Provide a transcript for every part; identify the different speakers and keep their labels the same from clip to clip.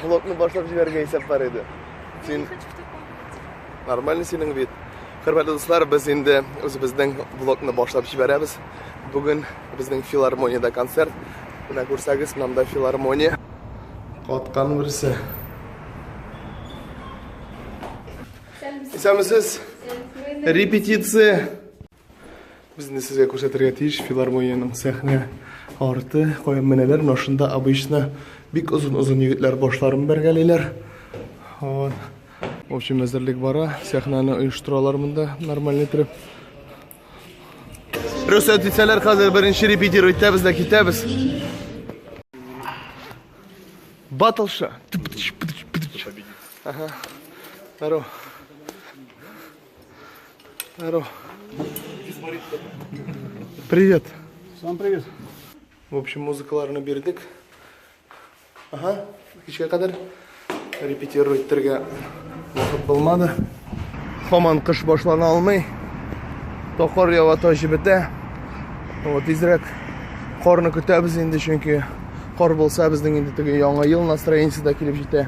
Speaker 1: Блокны башлап җибәрергә исәп бар иде. Син Нормальный синең вид. Хөрмәтле дуслар, без инде үзебезнең блокны башлап җибәрәбез. Бүген безнең филармониядә концерт. Менә күрсәгез, монда филармония. Каткан берсе. Исәнмесез. Репетиция. Безне сезгә күрсәтергә тиеш филармониянең сәхнә арты, каян менәләр, но шунда обычно бик озын-озын егетләр башларын бәргәлиләр. Вот. В общем, әзерлек бара, сәхнәне оештыралар монда нормальный итеп. Рөхсәт итсәләр, хәзер беренче репетировать итәбез дә китәбез. Батлша. Ага. Здорово. Здорово. Привет. Сам привет.
Speaker 2: В общем,
Speaker 1: музыкаларны бирдек. Ага, кичкә кадәр репетировать итәргә вакыт булмады. Хаман кыш башлана алмый. Токар ява таши бетә. Вот изрәк карны көтәбез инде, чөнки кар булса безнең инде теге яңа ел настроениесе дә килеп җитә.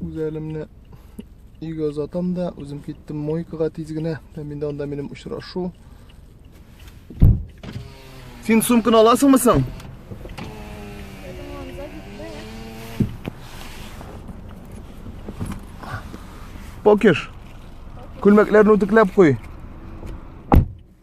Speaker 1: үз әлемне өйгә озатам да үзем киттем мойкага тиз генә һәм инде анда минем очрашу син сумканы аласыңмы соң покеш күлмәкләрне үтекләп куй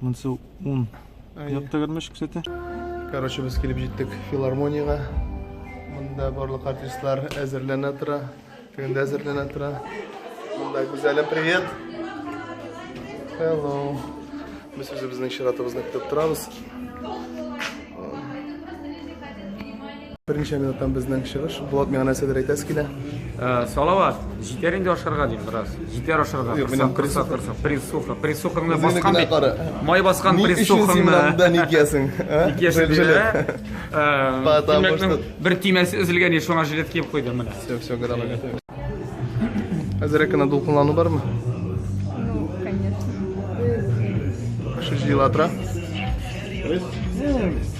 Speaker 2: Монсы ун. Якта гәрмәш күрсәтә. Короче, без
Speaker 1: килеп җиттек филармониягә. Монда барлык артистлар әзерләнә тора. Тегендә әзерләнә тора. Монда Гүзәлем, привет. Hello. Без үзебезнең чиратыбызны көтеп торабыз. Берничә минуттан безнең чыгыш. Булат, миңа нәрсәдер әйтәсе килә. Э, Салават,
Speaker 3: җитәр инде ашарга дим бераз. Җитәр ашарга. Юк, минем Кырсак, кырсак, присуха. Присухаңны Үзеңне баскан генә кара. бит. Май баскан Ни өчен син менә присухаңны. монда ник ясың?
Speaker 1: а? Ник яши Жилет, жилет. диләр? Э,
Speaker 3: Потому Тимәкнең что- бер тимәсе өзелгән еш шуңа жилет киеп куйдым менә. Все, все, готово,
Speaker 1: готово. Әзерәк кенә дулкынлану бармы? Ну, конечно. Шушы ел атра.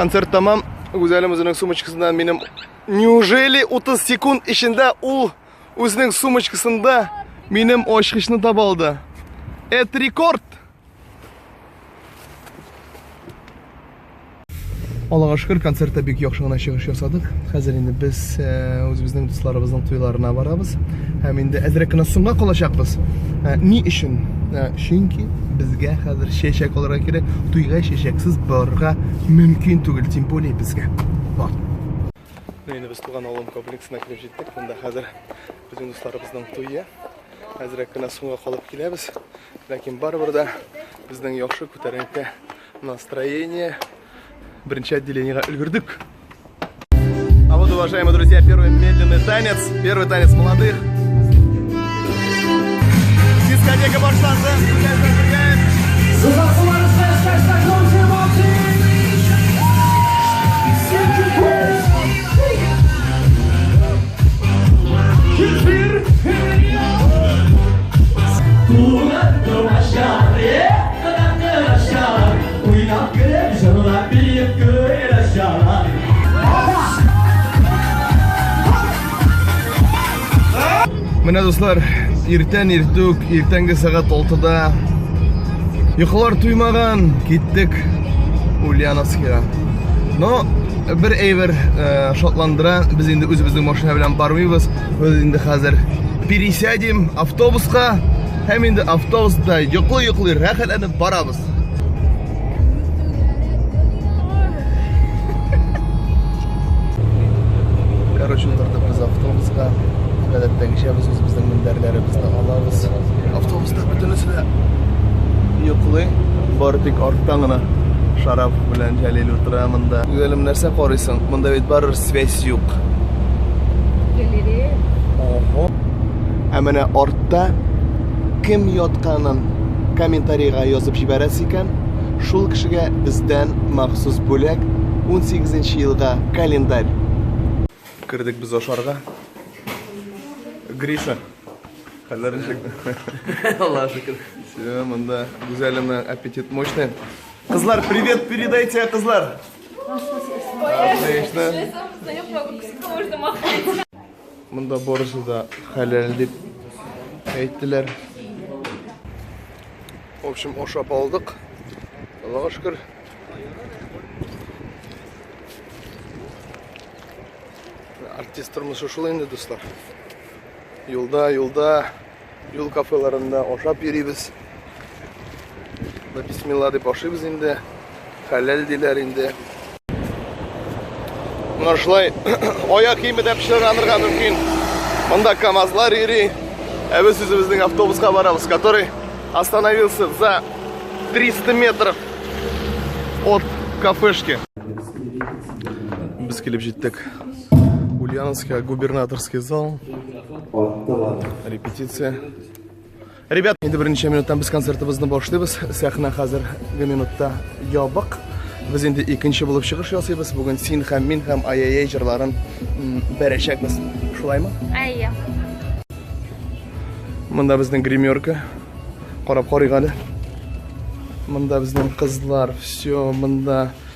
Speaker 1: концерт тамам гүзәлем үзенең сумочкасыннан минем неужели 30 секунд эчендә ул үзенең сумочкасында минем очкычны таба алды это рекорд Аллага шөкер, концертта бик яхшы гына чыгыш ясадык. Хәзер инде без үзебезнең дусларыбызның туйларына барабыз. Һәм инде әзрәк кенә соңга калачакбыз. Ни өчен? Чөнки безгә хәзер чәчәк алырга кирәк. Туйга чәчәксез барырга мөмкин түгел, тем более безгә. Бар. Инде без туган авылым комплексына килеп җиттек. Монда хәзер безнең дусларыбызның туе. Әзрәк кенә соңга калып киләбез. Ләкин барыбер дә безнең яхшы күтәренке настроение. Беренче отделениега өлгердек. А вот, уважаемые друзья, первый медленный танец, первый танец молодых. Дискотека башланды. Менә дуслар, иртән иртүк, иртәнге сәгать 6-да йокылар туймаган, киттек Ульяновскига. Но Бер әйбер э, шатландыра, без инде үзебезнең машина белән бармыйбыз. Без инде хәзер пересядем автобуска һәм инде автобуста йоклый-йоклый рәхәтләнеп барабыз. Короче, утырдык без автобуска. Гадәттәгечә без үзебезнең мендәрләребезне алабыз. Автобус Бөтенесе дә йоклый, бары тик арттан гына шарап белән Җәлил утыра монда. Гөлем, нәрсә карыйсың? Монда бит барыр связь юк.
Speaker 4: Галерея. Ого.
Speaker 1: Ә менә артта кем ятканын комментарийга язып җибәрәсе икән, шул кешегә бездән махсус бүләк 18 елга календарь. Кердек без ашарга. Гриша, Хәлләр ничек? Аллаһ шөкер. Все, монда гүзәлемнең аппетит мощный. Кызлар, привет передайте, кызлар. Отлично. Монда барысы да хәләл дип әйттеләр. В общем, ашап алдык. Аллаһ шөкер. Артист тормышы шулай инде, дуслар. Юлда, юлда, юл кафеларында ашап йөрибез. Да бисмилла дип ашыйбыз инде. Хәләл диләр инде. Менә шулай аяк киеме дә пешерәнергә мөмкин. Монда КАМАЗлар йөри. Ә без үзебезнең автобуска барабыз, который остановился за 300 метров от кафешки. Без килеп җиттек. Ульяновская, губернаторский зал. Репетиция. Ребят, инде беренче минуттан без концертыбызны башлыйбыз. Сәхнә хәзер бер минутта ябык. Без инде икенче булып чыгыш ясыйбыз. Бүген син һәм мин һәм ай-яй-яй җырларын бәрәчәкбез. Шулаймы? Әйе. Монда безнең гримерка. Карап карыйк әле. Монда безнең кызлар. Все, монда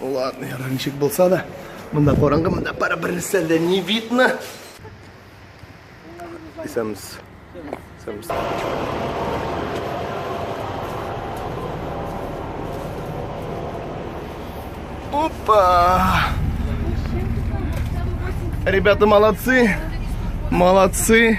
Speaker 1: Ладно, я ничек булса да. Монда караңгы, монда пара бернәрсә дә не видно. Исәмс. Исәмс. Опа! Ребята молодцы. Молодцы.